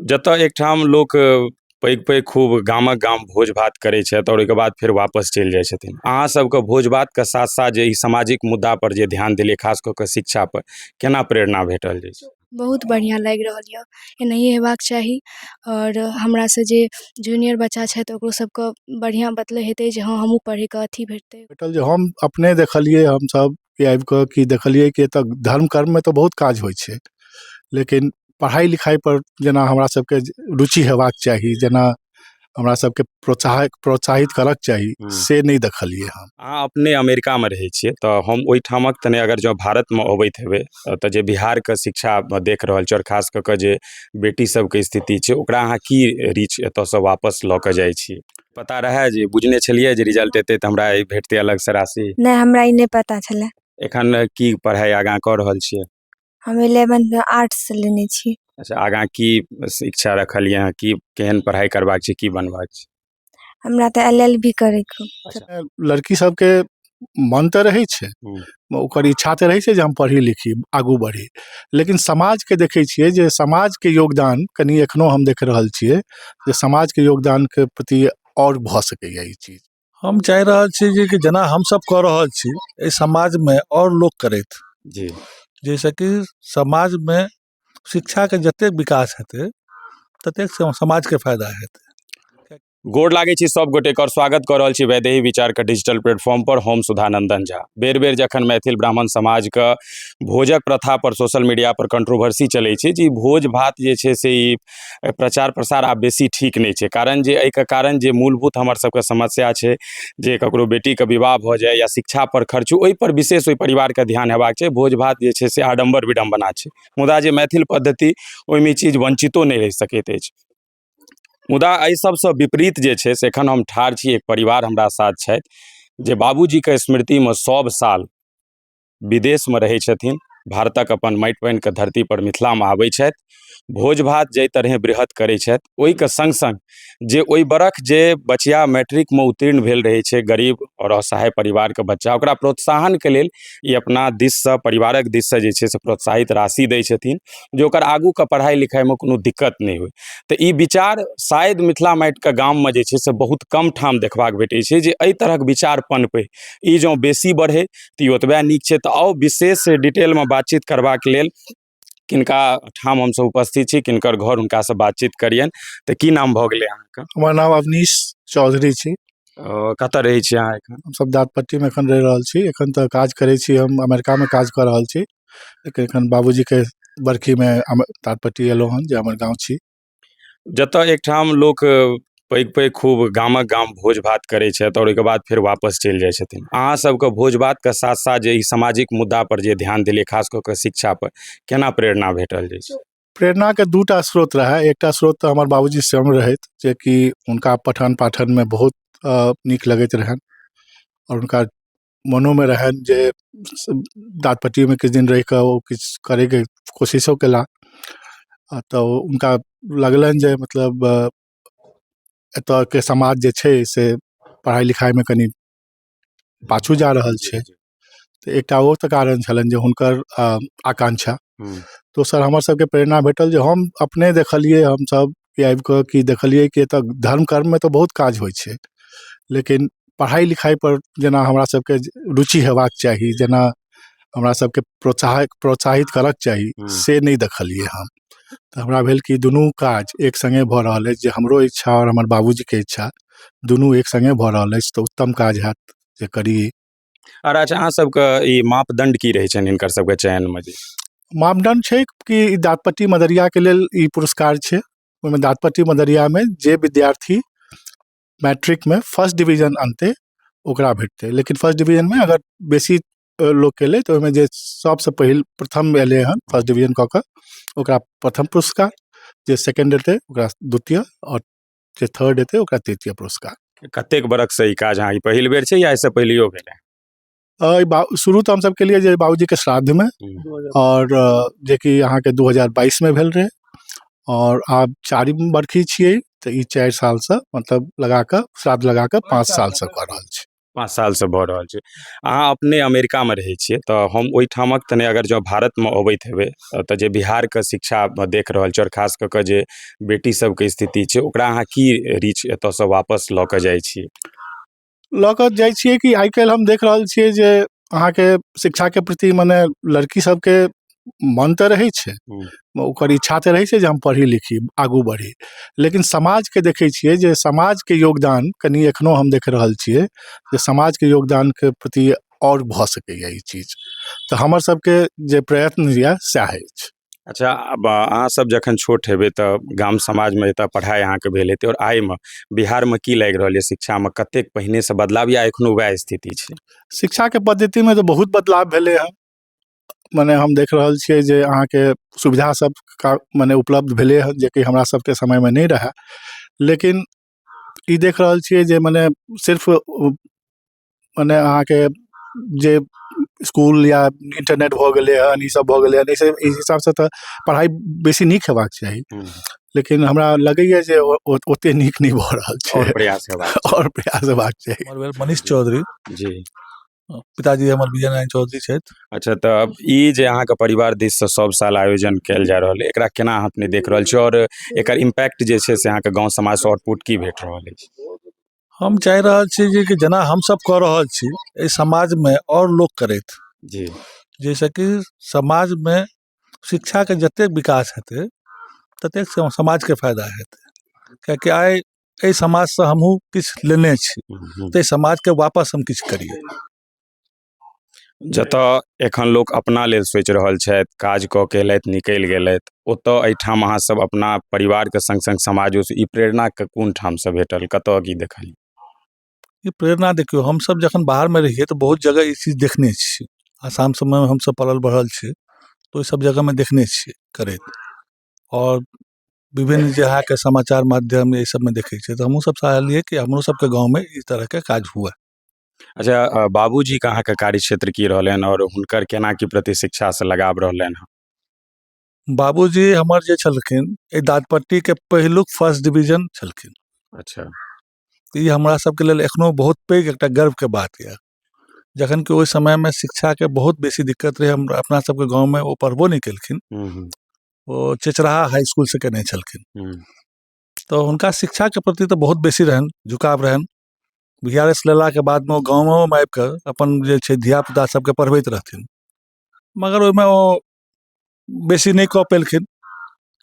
जतय एकठाम लोक पैघ पैघ खूब गामक गाम भोज भात करै छथि आओर ओहिके बाद फेर वापस चलि जाइ छथिन अहाँ सभके भोज भातके साथ साथ जे ई सामाजिक मुद्दा पर जे ध्यान देलियै खास कऽ कऽ शिक्षा पर केना प्रेरणा भेटल जे छै बहुत बढ़िआँ लागि रहल यऽ एनाहिये हेबाक चाही आओर हमरा से जे जूनियर बच्चा छथि ओकरो सभके बढ़िआँ बतलै हेतै जे हँ हमहूँ पढ़ैके अथी भेटतै भेटल जे हम अपने देखलियै हमसभ कि आबि कऽ कि देखलियै कि एतय धर्म कर्ममे तऽ बहुत काज होइ छै लेकिन पढ़ाइ लिखाइपर जेना हमरा सभके रुचि हेबाक चाही जेना हमरा सभके प्रोत्साहक प्रोत्साहित करक चाही हूँ। से नहि देखलियै हम अहाँ अपने अमेरिकामे रहै छियै तऽ हम ओहिठामक तऽ नहि अगर जँ भारतमे अबैत हेबै तऽ जे बिहारके शिक्षा देख रहल छी आओर खास कऽ कऽ जे बेटी सभके स्थिति छै ओकरा अहाँ की रीच एतयसँ वापस लऽ कऽ जाइ छी पता रहए जे बुझने छलियै जे रिजल्ट एतै तऽ हमरा ई भेटतै अलगसँ राशि नहि हमरा ई नहि पता छलै एखन की पढ़ाइ आगाँ कऽ रहल छियै हम इलेवन आर्ट्स लेने छी अच्छा आगाँ की शिक्षा रखलियै हँ की केहन पढ़ाइ करबाक छै की बनबाक छै हमरा तऽ एल एल बी करैके लड़की सबके मन तऽ रहय छै ओकर इच्छा तऽ रहय छै जे हम पढ़ी लिखी आगू बढ़ी लेकिन समाजके देखय छियै जे समाजके योगदान कनी एखनो हम देख रहल छियै जे समाजके योगदानके प्रति आओर भऽ सकइए ई चीज हम चाहि रहल छी जे कि जेना हमसब कऽ रहल छी अइ समाजमे आओर लोक करथि जी जैसँ कि समाजमे शिक्षाके जते विकास हेतय ततेक समाजके फायदा हेतय गोर लागै छी सभ गोटेकर स्वागत कऽ रहल छी वैदेही विचारके डिजिटल प्लेटफॉर्मपर हम सुधानन्दन झा बेर बेर जखन मैथिल ब्राह्मण समाजके भोजक प्रथापर सोशल मीडियापर कंट्रोवर्सी चलै छै जे ई भोज भात जे छै से ई अ, प्रचार प्रसार आब बेसी ठीक नहि छै कारण जे एहिके कारण जे मूलभूत हमर सभके समस्या छै जे ककरो बेटीके विवाह भऽ जाय या शिक्षापर खर्च ओहिपर विशेष ओहि परिवारके ध्यान हेबाक छै भोज भात जे छै से आडम्बर विडम्बना छै मुदा जे मैथिल पद्धति ओहिमे ई चीज वञ्चितो नहि रहि सकैत अछि मुदा एहि सभसँ विपरीत जे छै से एखन हम ठाढ़ छी एक परिवार हमरा साथ छथि जे बाबूजीके स्मृतिमे सभ साल विदेशमे रहै छथिन भारतक अपन माटि पानिके धरतीपर मिथिलामे आबै छथि भोज भात जाहि तरहेँ बृहत करै छथि ओहिके सङ्ग सङ्ग जे ओहि बरख जे बचिया मैट्रिकमे उत्तीर्ण भेल रहै छै गरीब आओर असहाय परिवारके बच्चा ओकरा प्रोत्साहनके लेल ई अपना दिससँ परिवारक दिससँ जे छै से प्रोत्साहित राशि दै छथिन जे ओकर आगूके पढ़ाइ लिखाइमे कोनो दिक्कत नहि होइ तऽ ई विचार शायद मिथिला माटिके गाममे जे छै से बहुत कम ठाम देखबाक भेटै छै जे एहि तरहक विचार पनपै ई जँ बेसी बढ़ै तऽ ई ओतबे नीक छै तऽ आउ विशेष डिटेलमे बातचीत करबाक लेल किनका ठाम हमसभ उपस्थित छी किनकर घर हुनकासँ बातचीत करियनि तऽ की नाम भऽ गेलै अहाँके हमर नाम अवनीश चौधरी छी अ, कतऽ रहै छी अहाँ एखन हमसभ दाँतपट्टीमे एखन रहि रहल छी एखन तऽ काज करै छी हम अमेरिकामे काज कऽ रहल छी लेकिन एखन बाबूजीके बरखीमे हम दाँतपट्टी अयलहुँ हन जे हमर गाँव छी जतय एकठाम लोक पैघ पैघ खूब गामक गाम भोज भात करै छथि आओर ओहिके बाद फेर वापस चलि जाइ छथिन अहाँ सबके भोज भातके साथ साथ जे ई सामाजिक मुद्दा पर जे ध्यान देलियै खास कऽ कऽ शिक्षा पर केना प्रेरणा भेटल जाइ छै प्रेरणाके दू टा स्रोत रहए एकटा स्रोत तऽ हमर बाबूजी स्वयं रहथि जेकि हुनका पठन पाठनमे बहुत अ, नीक लगैत रहनि आओर हुनका मोनोमे रहनि जे दाँत पट्टीमे किछु दिन रहि कऽ ओ किछु करयके कोशिशो कयला आ तऽ हुनका लगलनि जे मतलब एतयके समाज जे छै से पढ़ाइ लिखाइमे कनि पाछू जा रहल छै तऽ एकटा ओ तऽ कारण छलनि जे हुनकर आकांक्षा दोसर हमर सभके प्रेरणा भेटल जे हम अपने देखलियै हमसभ कि आबि कऽ कि देखलियै कि एतय धर्म कर्ममे तऽ बहुत काज होइ छै लेकिन पढ़ाइ लिखाइपर जेना हमरा सभके रुचि हेबाक चाही जेना हमरा सभके प्रोत्साहक प्रोत्साहित करक चाही से नहि देखलियै हम तऽ हमरा भेल कि दुनू काज एक सङ्गे भऽ रहल अछि जे हमरो इच्छा आओर हमर बाबूजीके इच्छा दुनू एक सङ्गे भऽ रहल अछि तऽ उत्तम काज हएत जे करी आओर अच्छा अहाँ सबके ई मापदण्ड की रहै छनि हिनकर सबके चयनमे जे मापदण्ड छै कि दाँतपट्टी मदरियाके लेल ई पुरस्कार छै ओहिमे दाँतपट्टी मदरियामे जे विद्यार्थी मैट्रिकमे फर्स्ट डिवीजन अनतै ओकरा भेटतै लेकिन फर्स्ट डिवीजनमे अगर बेसी अ, लोक केलै तऽ ओहिमे जे सबसँ पहिल प्रथम एलै हन फर्स्ट डिवीजन कऽ कऽ ओकरा प्रथम पुरस्कार जे सेकंड एतै ओकरा द्वितीय आओर जे थर्ड हेतै ओकरा तृतीय पुरस्कार कतेक बरखसँ ई काज अहाँ ई पहिल बेर छै या एहिसँ पहिलहियो भेलै अ, ई बा- शुरू तऽ हमसभ केलियै जे बाबूजीके श्राद्धमे हम्म। आओर अ, जेकि अहाँके 2022मे भेल रहै आओर आब चारिम बरखी छियै तऽ ई चारि सालसँ मतलब लगा कऽ श्राद्ध लगा कऽ पाँच सालसँ कऽ रहल छी पाँच सालसँ भऽ रहल छै अहाँ अपने अमेरिकामे रहै छियै तऽ हम ओहिठामक तनि अगर जँ भारतमे अबैत हेबै तऽ जे बिहारके शिक्षा देख रहल छी आओर खास कऽ कऽ जे बेटी सभके स्थिति छै ओकरा अहाँ की रीच एतऽसँ वापस लऽ कऽ जाइ छी लऽ कऽ जाइ छियै कि आइ काल्हि हम देख रहल छियै जे अहाँके शिक्षाके प्रति मने लड़की सभके मन तऽ रहय छै ओकर इच्छा तऽ रहय छै जे हम पढ़ी लिखी आगू बढ़ी लेकिन समाजके देखय छियै जे समाजके योगदान कनी एखनो हम देख रहल छियै जे समाजके योगदानके प्रति आओर भऽ सकइए ई चीज तऽ हमर सबके जे प्रयत्न यऽ सएह अछि अच्छा अब अहाँ सब जखन छोट हेबय तऽ गाम समाजमे एतऽ पढ़ाइ अहाँके भेल हेतय आओर आइमे बिहारमे की लागि रहल यऽ शिक्षामे कतेक पहिनेसँ बदलाव या एखनो वएह स्थिति छै शिक्षाके पद्धतिमे तऽ बहुत बदलाव भेलय हँ मने हम देख रहल छियै जे अहाँके सुविधा सब का मने उपलब्ध भेलय हँ जे कि हमरा सबके समयमे नहि रहय लेकिन ई देख रहल छियै जे मने सिर्फ मने अहाँके जे इसकुल या इन्टरनेट भऽ गेलय हन ई सब भऽ गेलय हन अइसँ अइ हिसाबसँ तऽ पढ़ाइ बेसी नीक हेबाक चाही लेकिन हमरा लगइए जे ओ ओ ओते नीक नहि भऽ रहल छै आओर प्रयास हेबाक आओर प्रयास हेबाक चाही हमर भेल मनीष चौधरी जी पिताजी हमर विजय नारायण चौधरी छथि अच्छा तऽ ई जे अहाँके परिवार दिससँ सब साल आयोजन कयल जा रहल अइ एकरा केना अहाँ अपने देख रहल छी आओर एकर इम्पैक्ट जे छै से अहाँके गाँव समाजसँ आउटपुट की भेट रहल अछि हम चाहि रहल छी जे कि जेना हमसभ कऽ रहल छी एहि समाजमे आओर लोक करथि जी जाहिसँ कि समाजमे शिक्षाके जतेक विकास हेतै ततेक स समाजके फायदा हेतै किएकि आइ एहि समाजसँ हमहूँ किछु लेने छी ताहि समाजके वापस हम किछु करिए जतऽ एखन लोक अपना लेल सोचि रहल छथि काज कऽ कऽ अएलथि निकलि गेलथि ओतऽ एहिठाम अहाँसभ अपना परिवारके सङ्ग सङ्ग समाजोसँ ई प्रेरणाके कोन ठामसँ भेटल कतऽ कि देखलिए ई प्रेरणा देखियौ हमसभ जखन बाहरमे रहियै तऽ बहुत जगह ई चीज देखने छियै आसाम सभमे हमसभ पलल बढ़ल छी तऽ ओहिसभ जगहमे देखने छियै करैत आओर विभिन्न जे अहाँके समाचार माध्यम एहि सभमे देखै छियै तऽ हमहूँसभ चाहलियै कि हमरो सभके गाँवमे ई तरहके काज हुअए अच्छा अ, बाबूजीके अहाँके कार्यक्षेत्र की रहलनि आओर हुनकर केना की प्रति शिक्षासँ लगाव रहलनि हँ बाबूजी हमर जे छलखिन एहि दादपट्टीके पहिलुक फर्स्ट डिवीजन छलखिन अच्छा तऽ ई हमरा सबके लेल एखनो बहुत पैघ एकटा गर्वके बात यऽ जखन कि ओइ समयमे शिक्षाके बहुत बेसी दिक्कत रहय हमरा अपना सबके गाँवमे ओ पढ़बो नहि कयलखिन हूँ हूँ ओ चेचराहा हाइ इसकुलसँ कयने छलखिन हूँ तऽ हुनका शिक्षाके प्रति तऽ बहुत बेसी रहनि झुकाव रहनि बी आर एस लेलाके बादमे ओ गाँवोमे आबि कऽ अपन जे छै धियापुता सबके पढ़बैत रहथिन मगर ओइमे ओ बेसी नहि कऽ पयलखिन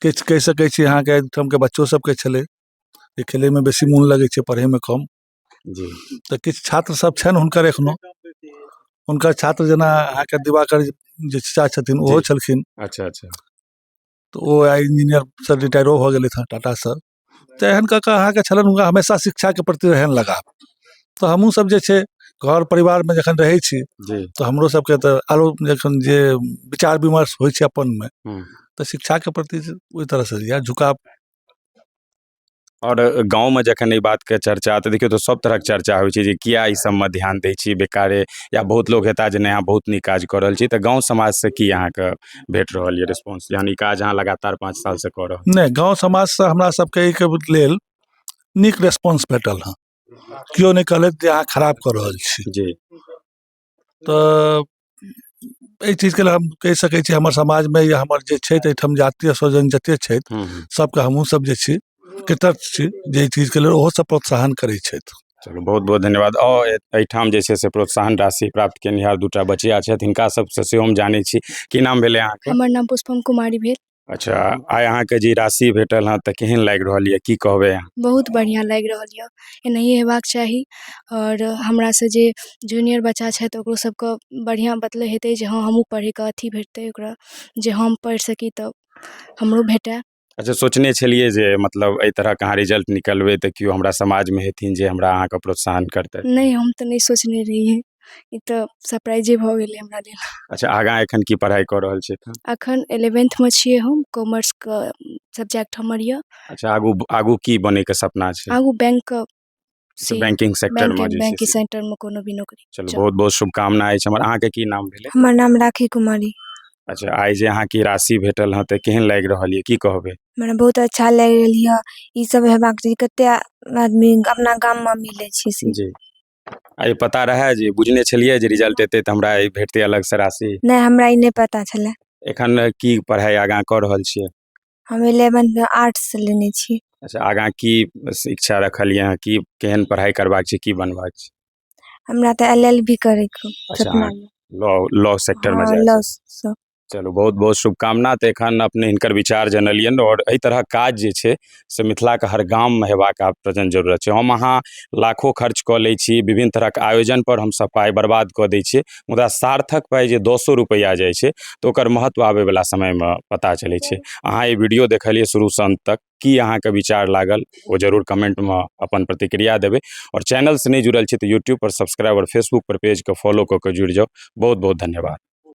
किछु कहि सकै छी अहाँके एहि ठामके बच्चो सभके छलै जे खेलयमे बेसी मोन लगै छै पढ़यमे कम जी तऽ किछु छात्र सभ छनि हुनकर एखनो हुनकर छात्र जेना अहाँके दिवाकर जे चाचा छथिन ओहो जी। छलखिन अच्छा अच्छा तऽ ओ आइ इंजीनियर सर रिटायरो भऽ गेलथि हँ टाटासँ तऽ एहन कऽ कऽ अहाँके छलनि हुनका हमेशा शिक्षाके प्रति रहनि लगाव तऽ हमहूँ सब जे छै घर परिवारमे जखन रहै छी जी तऽ हमरो सबके तऽ आरो जखन जे विचार विमर्श होइ छै अपनमे हूँ। तऽ शिक्षाके प्रति जे ओहि तरहसँ या झुकाव आओर गाँवमे जखन ई बातके चर्चा तऽ देखियौ तऽ सब तरहक चर्चा होइ छै जे किया ई सबमे ध्यान दै छी बेकारे या बहुत लोक हेता जे नहि अहाँ बहुत नीक काज कऽ रहल छी तऽ गाँव समाजसँ की अहाँके भेट रहल यऽ रेस्पॉन्स यानि काज अहाँ लगातार पाँच सालसँ कऽ रहल नहि गाँव समाजसँ हमरा सबके एहिके लेल नीक रेस्पॉन्स भेटल हँ केओ नहि कहलथि जे अहाँ खराब कऽ रहल छी जी तऽ एहि चीजके लेल हम कहि सकै छी हमर समाजमे या हमर जे छथि एहिठाम जातीय स्वजन जतेक छथि हूँ हूँ सबके हमहूँ सब जे छी कृतज्ञ छी जे एहि चीजके लेल ओहो सब प्रोत्साहन करै छथि चलू बहुत बहुत धन्यवाद आओर ए- एहिठाम जे छै से प्रोत्साहन राशि प्राप्त केनिहार दूटा बचिया छथि हिनका सबसँ सेहो हम जानै छी की नाम भेलै अहाँके हमर नाम पुष्पम कुमारी भेल अच्छा आइ अहाँके जे राशि भेटल हँ तऽ केहन लागि रहल यऽ की कहबै अहाँ बहुत बढ़िआँ लागि रहल यऽ एनाहिए हेबाक चाही आओर हमरासँ जे जूनियर बच्चा छथि ओकरो सबके बढ़िआँ बतलै हेतै जे हँ हमहूँ पढ़ैके अथी भेटतै ओकरा जे हम पढ़ि सकी तऽ हमरो भेटै अच्छा सोचने छलियै जे मतलब एहि तरहके अहाँ रिजल्ट निकलबै तऽ केओ हमरा समाजमे हेथिन जे हमरा अहाँके प्रोत्साहन करतै नहि हम तऽ नहि सोचने रहियै ई तऽ सरप्राइजे भऽ गेलै हमरा लेल अच्छा आगाँ एखन की पढ़ाइ कऽ रहल छी एखन अखन एलेवेंथमे छियै हम कॉमर्सके सब्जेक्ट हमर यऽ अच्छा आगू आगू की बनैके सपना छै आगू बैंकके से बैंकिंग सेक्टर मे जे बैंकिंग छै से। सेंटर मे कोनो भी नौकरी चलू चलू। बहुत बहुत शुभकामना अछि हमर अहाँके की नाम भेलै हमर नाम राखी कुमारी अच्छा आइ जे अहाँके ई राशि भेटल हँ तऽ केहन लागि रहल यऽ की कहबै हमरा बहुत अच्छा लागि रहल यऽ ई सब हेबाक चाही कते आ- आदमी अपना गाम मे मिलै छै से जी आइ पता रहए जे बुझने छलियै जे रिजल्ट एतै तऽ हमरा ई भेटतै अलगसँ राशि नहि हमरा ई नहि पता छलै एखन की पढ़ाइ आगाँ कऽ रहल छियै हम इलेवन से आर्ट्स से लेने छी अच्छा आगाँ की शिक्षा रखल यऽ अहाँ की केहन पढ़ाइ करबाक छै की बनबाक छै हमरा तऽ एल एल बी करैके अच्छा, सपना अहाँ- लॉ लॉ सेक्टरमे हँ, जाय law सँ। चलू बहुत बहुत शुभकामना तऽ एखन अपने हिनकर विचार जनलियनि आओर एहि तरहक काज जे छै से मिथिलाके हर गाममे हेबाक आब प्रेजेंट जरूरत छै हम अहाँ लाखो खर्च कऽ लै छी विभिन्न तरहक आयोजनपर हमसभ पाइ बर्बाद कऽ दै छियै मुदा सार्थक पाइ जे दसो रुपैआ जाइ छै तऽ ओकर महत्व आबयवला समयमे पता चलै छै अहाँ ई वीडियो देखलियै शुरूसँ अन्त तक की अहाँके विचार लागल ओ जरूर कमेंटमे अपन प्रतिक्रिया देबै आओर चैनलसँ नहि जुड़ल छी तऽ यूट्यूबपर सब्सक्राइब आओर फेसबुकपर पेजके फॉलो कऽ कऽ जुड़ि जाउ बहुत बहुत धन्यवाद